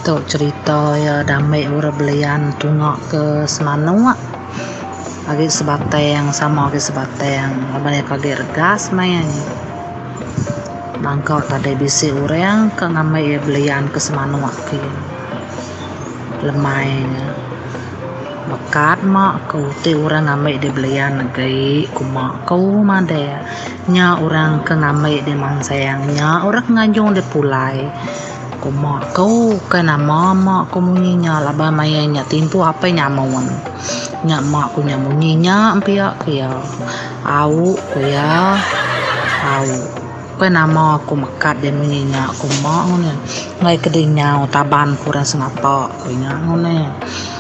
Tu cerita iya dame orang belian tunga ke semanok agi sebatang sama agi sebatang laban iya ke agi regas maya nyi bangka tadi bisi orang ke ngambi iya belian ke semanok ke lemai nya meka ma ke uti orang ngambi dia belian agi kuma ku madai. Nya orang ke ngambi deh mang sayang nya orang ke nganjung deh pulai ku mak ku ukai nama mak ku munyi nya laban maya nya timpuh apai nyamun nya mak ku nya munyi nya pia ku iya au ku iya au ukai nama ku mekat deh munyi nya ku mak ngundah enggai ke dinyau taban ku orang sengapa ku nya ngundah.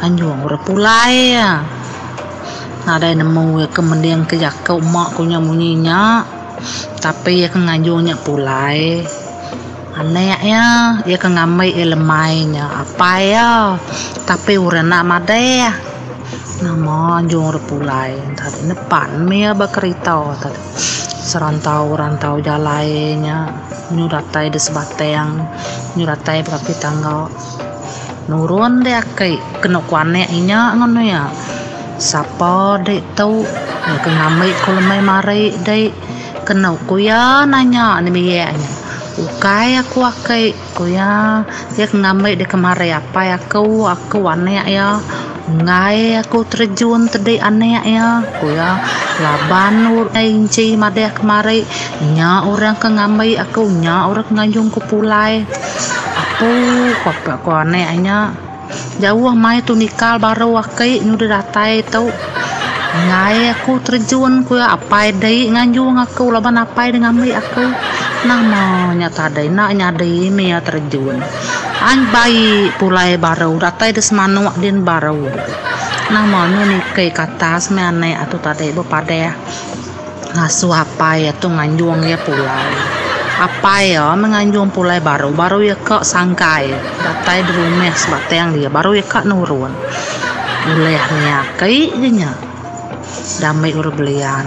Anjung orang pulai iya nadai nemu iya ke mending ke jaku uma ku nya munyi nya tapi iya ke nganjung nya pulai anek iya iya ke ngambi iya lemai nya apai iya tapi orang enda madeh nama anjung orang pulai enta deh nepan meh iya ba kerita enta deh serantau rantau jalai nya nyu datai di Sebatang nyu datai ba kaki tangga. Nurun deh aki kenu kuanek inya ngan iya. Sapa dek tu ke ngambi ku lemai mari dek kenu ku iya nanya nembiak inya. Ukai aku aki ku iya, iya ke ngambi deka mari apai aku, aku anek iya. Enggai aku terejun tedei anak iya, ku iya, laban urai inchi madah kemari, nya orang ke ngambi aku, nya orang ke nganjung ku pulai. Apu, ku ape ko anak nya. Jauh mai tu nikal baru aki nya udah datai tu. Enggai aku terejun, ku iya, apai dei nganjung aku laban apai dei ngambi aku. Nama nya tadai enda nyadi mih iya terejun. An bayi pulai baru datai di semanuk din baru. Nama nyu niki ke atas meh anek atu tadi bepadah ngasuh apai atu nganjung iya pulai. Apai iya meh nganjung pulai baru, baru iya ka sangkai datai di rumah sebatang dia baru iya ka nurun. Ulih nya aki je nya dame urang belian.